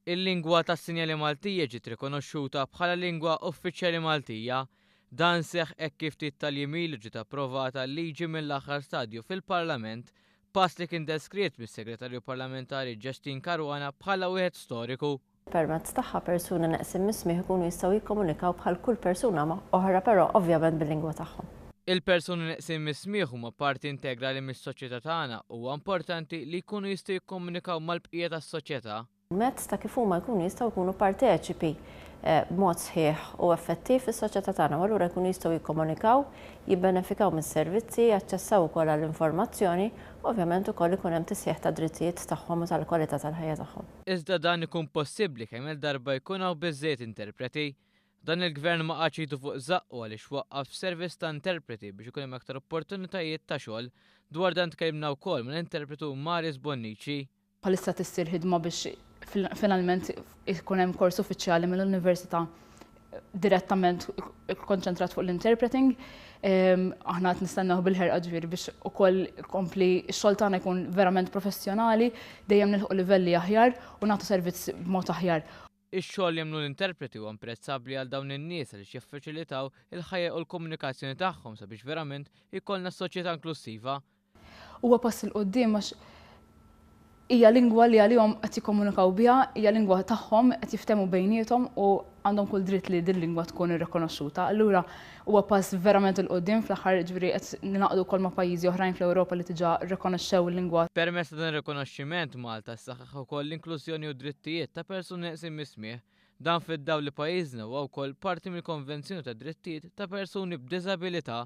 Il-lingwa tas-sinjali Maltija ġiet rikonoxxuta bħala lingwa uffiċjali Maltija. Dan seħħ hekk kif ftit tal-jiem ilu ġiet approvata l-liġi mill-aħħar stadju fil-Parlament, pass li kien deskritt mis-Segretarju Parlamentari Justyne Caruana bħala wieħed storiku. Permezz tagħha persuni neqsin mis-smigħ ikunu jistgħu jikkomunikaw bħal kull persuna oħra però ovvjament bil-lingwa tagħhom. Il-persuni neqsin mis-smigħ huma parti integrali mis-soċjetà tagħna u huwa importanti li jkunu jistgħu jikkomunikaw mal-bqija tas-soċjetà. permezz ta' kif huma jkunu jistgħu jkunu parteċipi b'mod sħiħ u effettiv fis-soċjetà tagħna u allura jkunu jistgħu jikkomunikaw, jibbenefikaw mis-servizzi, jaċċessaw ukoll għall-informazzjoni u ovvjament ukoll ikun hemm tisħiħ tad-drittijiet tagħhom u tal-kwalità tal-ħajja tagħhom. Iżda dan ikun possibbli kemm-il darba jkun hawn biżżejjed interpreti. Dan il-Gvern ma qagħadx idu fuq żaqqu għaliex waqqaf service ta' interpreti biex ikun hemm aktar opportunitajiet ta' xogħol. Dwar dan tkellimna wkoll mal-interpretu Maris Bonnici. Bħalissa tissir ħidma biex finalment ikun hemm kors uffiċjali mill-Università direttament ikkonċentrat fuq l-interpreting. Aħna qed nistennew bil-ħerqa ġifieri biex ukoll kompli x-xogħol tagħna jkun verament professjonali, dejjem nilħqu livelli aħjar u nagħtu servizz b'mod aħjar. Ix-xogħol li jagħmlu l-interpreti huwa imprezzabbli għal dawn in-nies għaliex jiffaċilitaw il-ħajja u l-komunikazzjoni tagħhom sabiex verament ikollna soċjetà inklussiva. Huwa pass 'il quddiem għax hija lingwa li għalihom qed jikkomunikaw biha, hija lingwa tagħhom, qed jiftehmu bejniethom u għandhom kull dritt li din lingwa tkun irrikonoxxuta. Allura huwa pass verament 'il quddiem fl-aħħar jiġifieri qed ningħaqdu wkoll ma' pajjiżi oħrajn fl-Ewropa li diġà rrikonoxxew il-lingwa Permezz ta' dan ir-rikonoxximent Malta ssaħħaħ jissaħħaħ ukoll l-inklużjoni u d-drittijiet ta' persuni neqsin mis-smigħ, dan fid-dawl li pajjiżna huwa wkoll parti mill-Konvenzjoni tad-Drittijiet ta' Persuni b'Diżabilità.